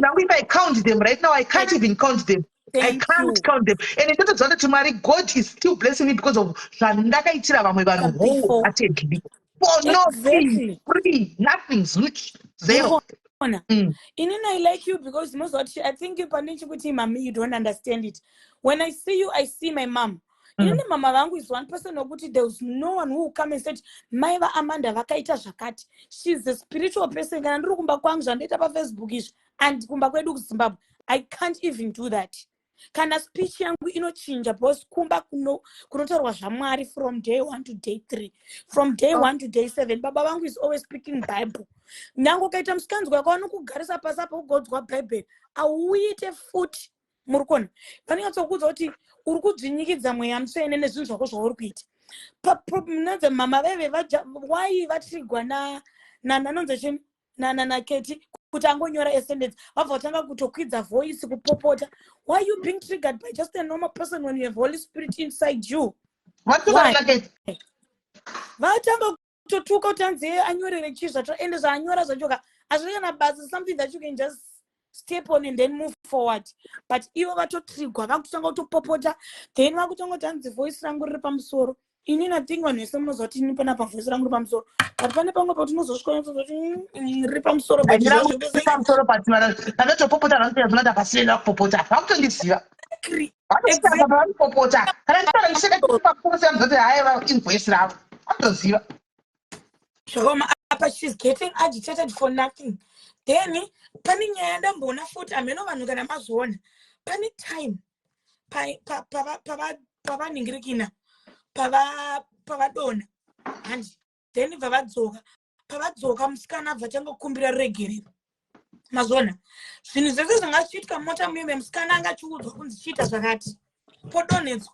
S1: angu if i count them right now i can't even count them I can't you. count them. And it doesn't matter Mwari God is still blessing me because of zvandakaitira vamwe vanhu wholeheartedly. for no thing exactly free nothing zluch zero mukuona mm.
S2: inini i like you because moziva kuti i think you pandini chikuti mami you don't understand it when i see you i see my mom mm. inini mm. mama vangu is one person wekuti there was no one who come and said mai vaamanda vakaita zvakati she is a spiritual person kana ndiri kumba kwangu zvandoita pafacebook izvi and kumba kwedu kuzimbabwe i can't even do that kana speech yangu inochinja because kumba kuno kunotorwa zvamwari from day one to day three from day oh. one to day seven baba vangu is always speaking bible nyange ukaita musikanzwa yako vanokugarisa pasi apa ugodzwa bhaibheri auite futi muri kuona vanonyatsokuudza kuti uri kudzvinyikidza mweya mutsvene nezvinhu zvako zvauri kuita paproblemnanze mama veve why vatrigwa nananonze chini nana naketi kuti angonyora esendence vabva vatanga kutokwidza voice kupopota why you being triggered by just a normal person when you have holy spirit inside you vatanga kutotuka kuti anzi anyorere chii zvacho ende zvaanyora zvachoka hazvina kana basa something that you can just step on and then move forward but ivo vatotrigwa vakutanga kutopopota then vakutanga kuti hanzi voice rangu riri pamusoro ini nathing vanhu vese munoziva kuti ini panapa voice rangu riri pamusoro but pane pamwe pakuti unozosvikaoti mm, riri pamusoro pamusoro but
S1: panotopopota vanotozonati apasienda kupopota vakutondiziva vanopopota kana ndiaa ndichekaiakuseamzoti haiva invoice ravo vanotoziva
S2: zvakaoma apa she's getting agitated for nothing then pane nyaya ndamboona futi hameno vanhu kana mazviona pane time pavaningirikina pavadona handi then vavadzoka pavadzoka musikana abva tanga kukumbira ruregerero mazviona zvinhu zvese zvanga zvichiitwa mota muime musikana anga achiudzwa kunzi chiita zvakati podonhedzwa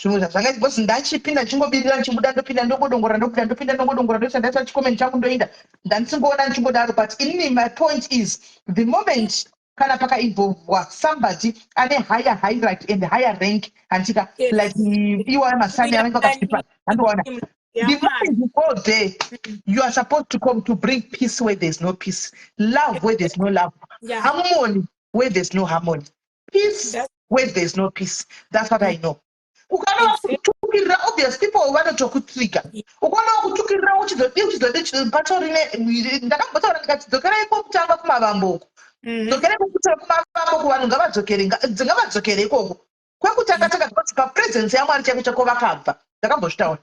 S1: zvimwe zvazvanga because ndachipinda ndichingobirira ndichibuda ndopinda ndongodongora ndopinda ndopinda ndongodongora ndoisa ndaisa chikomeni changu ndoinda ndandisingoona ndichingodaro but inini my point is the moment kana pakainvolvwa somebody ane higher hierarchy and higher rank handika like iwaya masani anenge akatipa handiona the moment you go there you are supposed to come to bring peace where there's no peace love where there's no love harmony where there's no harmony peace where there's no peace that's what i know ukaona vakutukirira obvious people vanotokutrigger ukaona vakutukirira uchizodii uchizodii chipato rine ndakambotaura ndikati dzokerai kwokutanga kumavambo uko mhm. dzokerai kwokutanga kumavambo uko vanhu ngavadzokere
S2: ngavadzokere ikoko kwekutanga tanga zvakati papresence yamwari chaiko chako vakabva ndakambozvitaura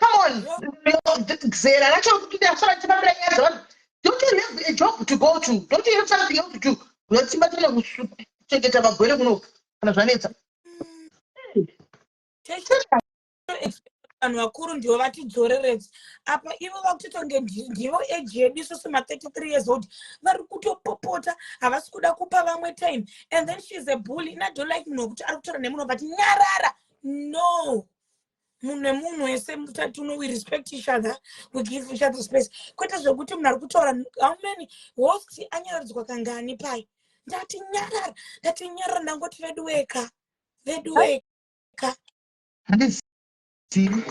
S1: come on zera racho kuti ndasara ndichipambira nyaya dzavanhu don't you have a job to go to don't you have something else to do unotsimba tine kuchengeta magwere kuno kana zvanetsa
S2: vanhu vakuru ndivo vatidzoreredza apa ivo vakutotonge ndivo age yedu isusu ma33 years old vari kutopopota havasi kuda kupa vamwe time and then sheis a bully and i don't like munhu wekuti ari kutaura nemunhu vati nyarara no munhu nemunhu wese mutatuno we respect each other we give each other space kwete zvekuti munhu ari kutaura how many host anyararidzwa kangani pai ndati nyarara ndati nyarara ndangoti vedu weka vedu weka handizivi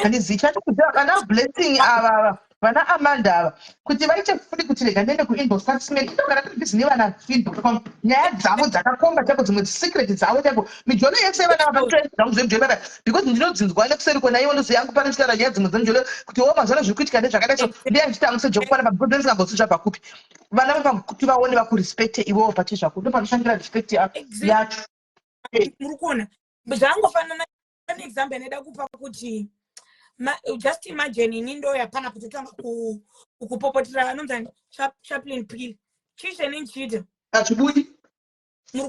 S1: handizivi chatikuziva kana blessing avava vana Amanda ava kuti vaite funi kuti rega ndiende kuinbox kwaSmith ndogara ndiri busy nevana Fin.com nyaya dzavo dzakakomba chaiko dzimwe secret dzavo chaiko mijolo yese vana vakatora zvangu zvemijolo baba because ndinodzinzwa nekuseri kona ivo ndozi yangu pano ndichitaura nyaya dzimwe dzemijolo kuti wo mazuva ano zviri kuitika ndezvakadai so ndiya ndichitangisa jokufana baba because ndisingambosi zvabva kupi vana vapa kuti vaone vakurespecte ivovo pache zvako ndopanoshandira respect yacho muri
S2: kuona zvangofanana one example inoda kupa kuti just imagine ini ndoya pana kutotanga kupopotera vanonzani chaplin pil chii chene ndichiita achibudi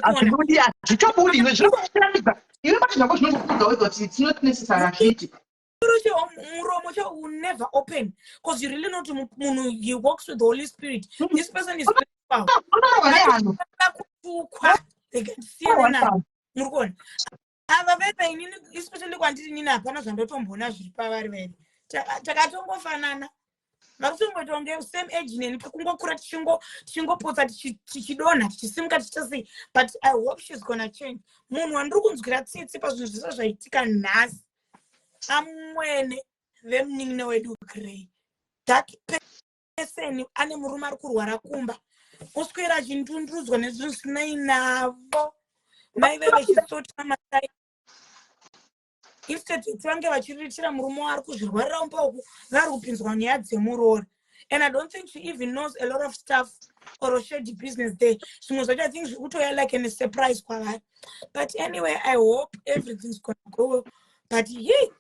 S1: achibudi achitobudi iwe zviri kuchiratidza iwe pane zvako zvinozokudza wezoti it's not necessary achiti
S2: muromo cho will never open because you really know kuti munhu he walks with the holy spirit hmm. this person is kutukwa they can see muri kuona ava veve inini especially kwandiri nini hapana zvandotomboona zviri pavari veve takatongofanana vakutongotonge same age neni kungokura tichingopotsa tichidonha tichisimuka tichasei but i hope shes gonna change munhu wandiri kunzwira tsitsi pazvinhu zvese zvaitika nhasi amwene vemunin'ina wedu grey that eseni ane murume ari kurwara kumba oswera achindundurudzwa nezvinhu zvisinai navo maive vechisota matai instead yekuti vange vachiriritira murume waari kuzvirwarira umba uku vari kupinzwa nyaya dzemuroora and i don't think she even knows a lot of stuff or shady business there zvimwe zvacho i think zviri kutoya like an surprise kwavari but anyway i hope everything's gonna go but ye yeah.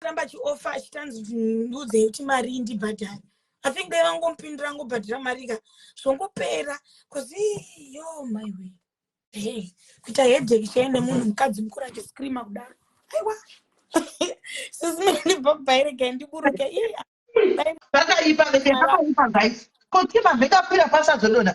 S2: ramba chiofa achitanzi kuti ndiudzei kuti marii ndibhadhari i think dai vangomupindira ngobhadhira mari ka zvongopera bcause yo my way hey kuita hedheki chai nemunhu mukadzi mukuru achiscreama kudaro aiwa sisimenibabhairega ndiburuke
S1: vakaipa vese vakaipa guys kotima vekapira pasazodonha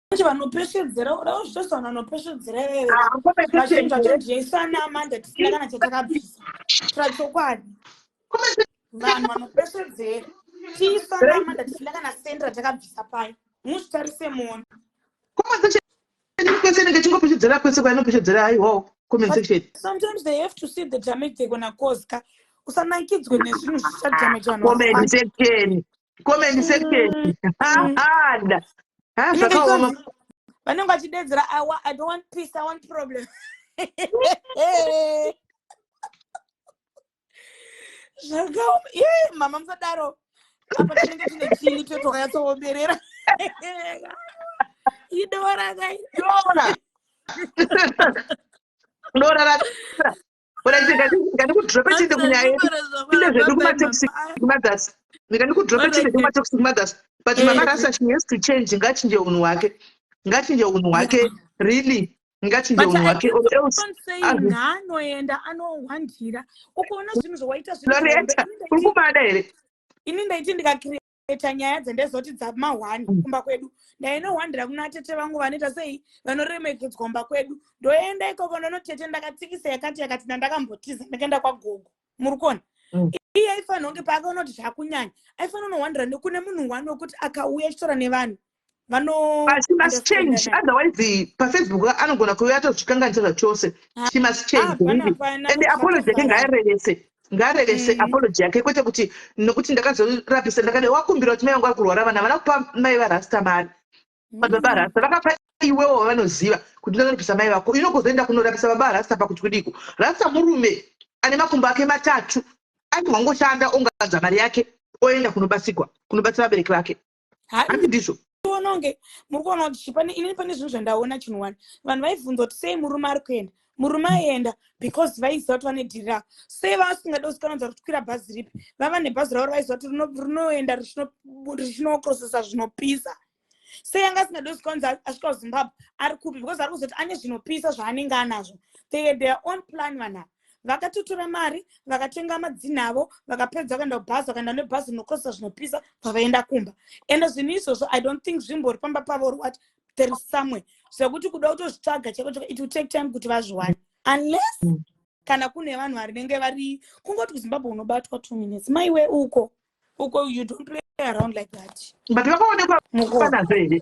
S1: manje
S2: vanopeshedzera uda kuzvita vanhu vanopeshedzera ivevevachinhu ah, chatodyaisana manje tisina kana chatakabvisa tira chokwadi vanhu vanopeshedzera tiisana manje tisina kana sendi ratakabvisa paye muzvitarise mona
S1: chingopeshedzera kwese kwainopeshedzera aiwawo comment section sometimes they have to
S2: see the damage they gonna cause ka usanakidzwe nezvinhu zvichadamage vanhu comment section
S1: comment section hada ha zvakaoma vanenge
S2: vachidedzera i wa- I don't want peace i want problem zvakaoma ye mama musadaro apa tinenge tine chini totokanyatsoomberera idora kai dora
S1: dora ra But I think I think ngani kudropa chinde kunyaya yedu. Tinde zvedu kuma toxic mothers. Ngani kudropa chinde kuma toxic mothers. But mama eh. Rasa she has to change ngachinje unhu wake. Ngachinje unhu wake really ngachinje unhu wake or else. Anoenda
S2: anohwandira. Ukaona zvinhu zvawaita zvinhu. Loretta, uri kumada
S1: here? Ini ndaiti
S2: ndikakiri kuita nyaya dzendezoti dzamahwani mm. kumba kwedu ndainohwandira kuna atete vangu vanoita sei vanoremekedzwa kumba kwedu ndoenda ikoko ndonotete ndakatsikisa yakati yakati ndandakambotiza ndakaenda kwagogo muri kuona mm. iye aifanira kunge paakaona kuti zvakunyanya aifanira unohwandira nekune munhu wani wekuti akauya achitora nevanhu
S1: she must change otherwise pafacebook anogona kuve atozvikanganisa zvachose ah, she must change ah, and apology yake ngaarevese ngaarevese mm. apology yake kwete kuti nokuti ndakazorapisa ndakade wakumbira kuti mai vangu ari kurwara vana vana kupa mai varasta mari madzibaba mm. arasta vakapa iwewo vavanoziva kuti ndorapisa mai vako ino kuzoenda kunorapisa baba arasta pakuti kudiko rasta murume ane makumbo ake matatu aiti wangoshanda ongadza mari yake oenda kunobatsirwa kunobatsira vabereki vake hanzi ndizvo tiona kunge
S2: muri kuona kuti chii pane inini pane zvinhu zvandaona chinhu wani vanhu vaibvunza kuti sei murume ari kuenda murume aienda because vaiziva kuti vane dhiri ravo sei vasingade kusikananza kuti kwira bhazi ripi vava nebhazi ravo raiziva kuti rinoenda richinoprosesa zvinopisa sei anga asingade kusikananza asvika kuzimbabwe ari kupi because ari kuzoti ane zvinopisa zvaanenge anazvo they had their own plan vanhava vakatotora mari vakatenga madzinha avo vakapedza vakaenda kubhazi vakaenda nebhazi rinokozesa zvinopisa vavaenda kumba ende zvinhu izvozvo i don't think zvimbori pamba pavo or what there is somewhere zvekuti kuda kutozvitsvaga chaiko chako it will take time kuti vazviwane unless mm. kana kune vanhu varinenge vari kungoti kuzimbabwe unobatwa two minutes maiwe uko uko you don't play around like that but vakaonekwa
S1: panazo here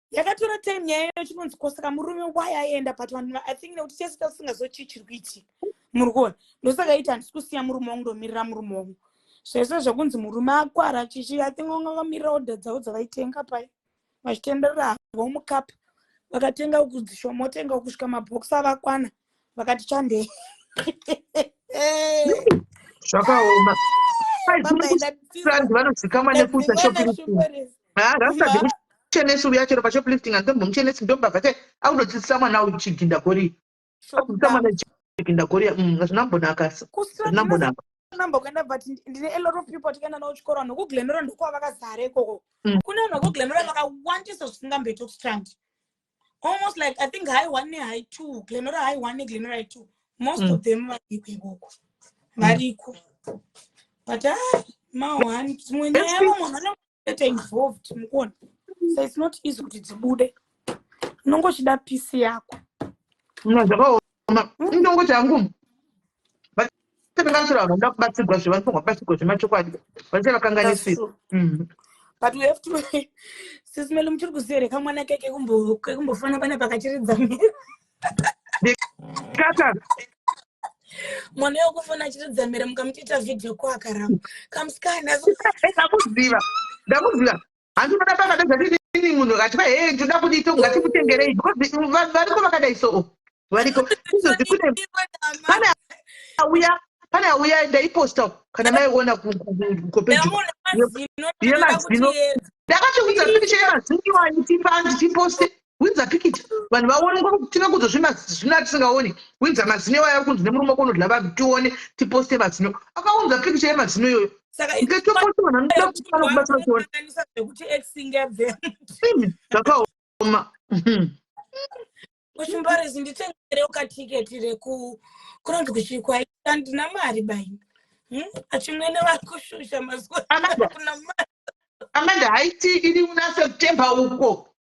S1: yakatora
S2: time nyaya iyo chinonzi kosaka murume why aienda but vanhu i think nekuti tese tasisingazochii chiri kuitika muri kuona ndosaka iti handisi kusiya murume wangu ndomirira murume wangu zvese zvekunzi murume akwara chichi i think vanga vakamirira order dzavo dzavaitenga pai vachitenderera havo mukapa vakatenga ukudzishomotenga ukusvika mabox avakwana vakati chandei
S1: zvakaoma vanozikamwa nekuita shoplifting rasta dekuchenesa uya chero pashoplifting andombomuchenesi ndombava ke akunodzidzisa mwana uyu chiginda goriya akudzidzisa mwana chiginda goriya mm, hazvina kumbonakasa hazvina kumbonaka number kuenda but
S2: ndine a lot of people tikaenda navo chikoro vanhu vekuglenora ndokuva vakazara ikoko mm. kune vanhu vekuglenora vakawandisa zvisingamboita kustandi almost like i think high one nehigh two glenora high one neglenora high two most mm. of them variko ikoko mm. variko but a ah, maone dzimwe nyaya vamwe vanoeta involved mukuona so its not easy kuti dzibude unongochida pisi yako
S1: ndongoti hangu vakanganisira vanhu vanoda kubatsirwa zve vanofanirwa kubatsirwa zvemachokwadi vanenge vakanganisira mm. but
S2: we have to sisi mele muchiri kuziva here kamwana ke kekumbofana pane pakachiridza mhere mwana wekufona achiridza mhere mukamutoita vhidhiyo ko akaramba kamusikana ndakuziva
S1: ndakuziva hanzi unoda baba nezvadii ini munhu akati va hee ndinoda kudii to ngatimutengerei because va- variko vakadai so variko izvozvi kune pane auya pane auya ndaiposta kana maiona ku- ku- ku- kukopejo Yamuona mazino inoda yemazino kuti yedza. ndakatoudza pikicha yemazino iwani tipa ndichiposte winza pikiti vanhu vaonekwa kuti tive kudzo zvimazino atisingaoni winza mazino iwayo ari kunzi nemurume wako unodla vanhu tione tiposte mazino akaunza pikicha yemazino iyoyo zvakaoma
S2: kuchimbarezi nditengerewo katiketi reku kunonzi kuchikwa andina mari baini hmm? achimwene vari kushusha mazuva kuna mari
S1: amanda haiti iri una september uko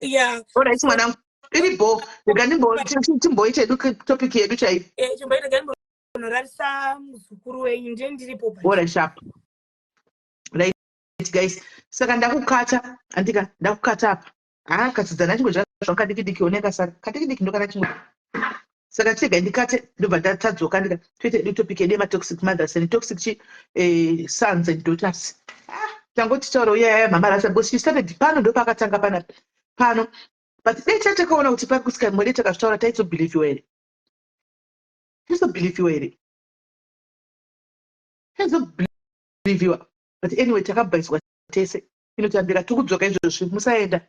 S2: yeah alright mwanangu
S1: iri bo rega ndimboite edu topic yedu chaiyo eh, chimboita rega ndimbonorarisa muzukuru wenyu ndiye
S2: ndiripo bora sharp
S1: right guys saka ndakukata andika ndakukata apa haa ah, katsidzana chimwe zvakadikidiki oneka sara kadikidiki ndokana chimwe saka chega ndikate ndobva ndatadzoka ndika toita edu topic yedu yematoxic mothers and toxic chi eh, sons and daughters ah, tangoti taura uya yaya mhamara asa because she started pano ndopaakatanga pana pano but dai chatakaona kuti pari kusika mwede takazvitaura taizobhilivhiwa here taizobhilivhiwa here taizobhilivhiwa but anyway takabhaiswa tese inotambira tikudzoka izvozvi musaenda